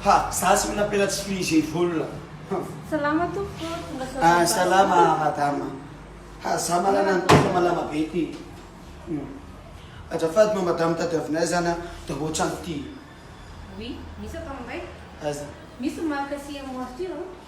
Ha, za tsy mila pela tsy frizzy volona. Salama tompoko, tonga soa Ah, salama madama. Ha, za malana ny tena malama be ty. Hmm. Ajafady ma madama tadiavinay zany an, de ohatran ty. Oui, misy ato aminay. Aiza? Misy ny marika CMO Arthur.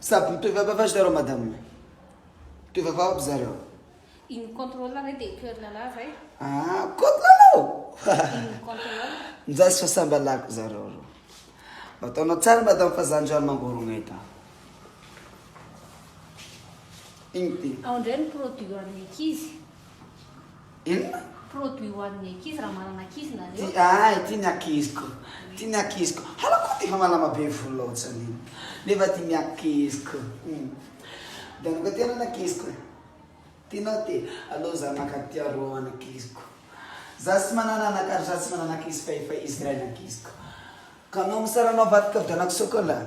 Sady mitohy vavavazo zareo madame. Mitohy vavao aby zareo. Iny contrôle re dia cœur lala zay. Ah, côte lala. Iny contrôle. Njazy fa samba lako zareo reo. Ataonao tsara madame fa zany rano mangorogna eto. Iny ty. Ao ndray ny produit an'ny ankizy. Inona? Produit ho an'ny ankizy raha manana ankizy nareo. Ti ahy, tia ny ankiziko, tia ny ankiziko. Hala koo defa malama be volo ohatrany iny nefa tia ny ankiziko. Hum. Dia anao koa tia ny ankiziko e. Tianao ty? Aleo za maka tia roa ho an'ankiziko. Za tsy manana anaka ary za tsy manana ankizy fa efa izy iray ny ankiziko. Ka anao misara anao avadika vidianako chocolat.